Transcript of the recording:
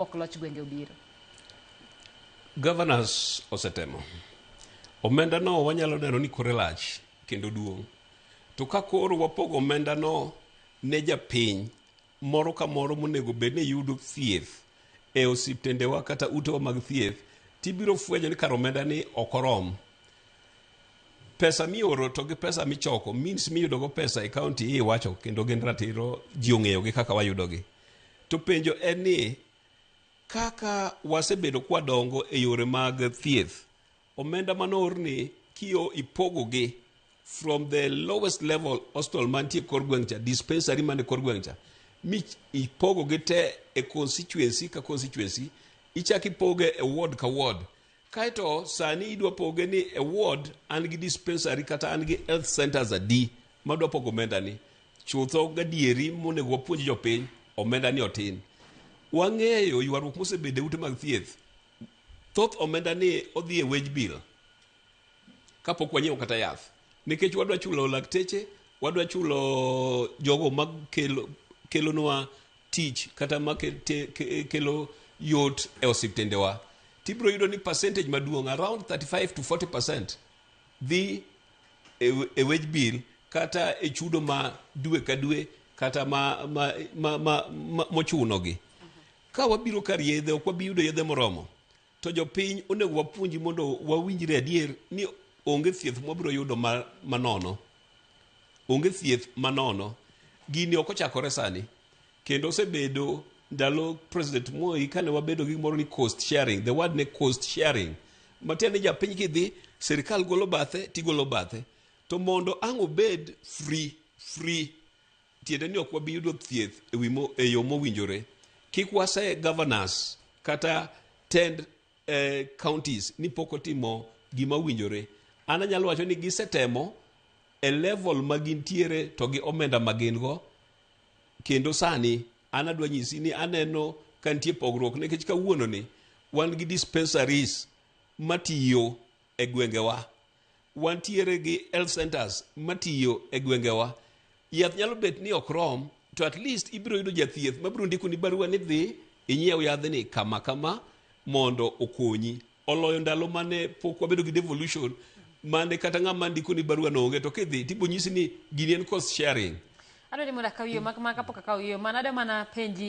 ok loch gwenge obiro. Governors osetemo. Omenda no wanyalo neno ni kore lach kendo duong'. To ka koro wapogo omenda no ne japiny moro ka moro monego bed ni yudo thieth e osiptendewa kata utewa mag thieth tibiro fwenyo ni kar omenda ni ok orom. Pesa mioro to gi pesa michoko means miyudogo pesa e kaunti iwacho kendo gin ratiro ji ong'eyogi kaka wayudogi. To penjo en ni kaka wasebedo kwadongo e yore mag thieth, omenda manoorni kiyo ipogogi from the lowest level hospital mantie kor gweng' cha, dispensary man e kor gweng' cha, mi ipogogi te e constituency ka constituency, ichak ipoge e ward ka ward. Kae to sani idwa poge ni e ward an gi dispensary kata an gi health centers adi ma dwa pogo omenda ni. Chutho gadieri monego wapuonj jopiny omenda ni otin. Wang'eyo ywaruok mosebedo e ute mag thieth. Thoth omenda ni odhi e wage bill kapok wanyiewo kata yath. Nikech wadwa chulo lakteche, wadwa chulo jogo makelo kelonwa tich kata makelo yot e osiptendewa tibiro yudo ni percentage maduong' around 35 to 40 percent dhi e wage bill kata e chudo ma dwe ka dwe kata ma, ma, ma, ma, ma, mochunogi ka wabiro kar yedhe ok wabi yudo yedhe moromo To jopiny onego wapuonji mondo wawinjre adier ni onge thieth mwabiro yudo ma- manono onge thieth manono gini ok ochakore sani kendo osebedo ndalo president moi kane wabedo gi gimoro ni cost sharing the word ne cost sharing matiende ni japiny kidhi sirikal golo bathe tigolo bathe to mondo ang' obed free free tiende ni ok wabi yudo thieth e wi mo- e yo mowinjore kik wase governors kata tend eh, counties ni pok otimo gima owinjore an anyalo wacho ni gisetemo e level ma gintiere to gi omenda ma gin go kendo sani an adwa nyisi ni aneno ka nitie pogruok nikech kawuononi wan gi dispensaries matiyo e gwengewa. Wantiere gi health centers matiyo e gwengewa. Yath nyalo bet ni ok rom, to at least ibiro yudo jathieth mabiro ndikoni barua ni dhi inyiew yadhni kama kama mondo okonyi. Oloyo ndalo mane pok wabedo gi devolution mane kata ng'ama ndikoni barua no onge to kidhi to ibonyisi ni gini en cost sharing. Adwa ni mondo akaw yo mak mak kapok akaw yo, mana adwa mana penji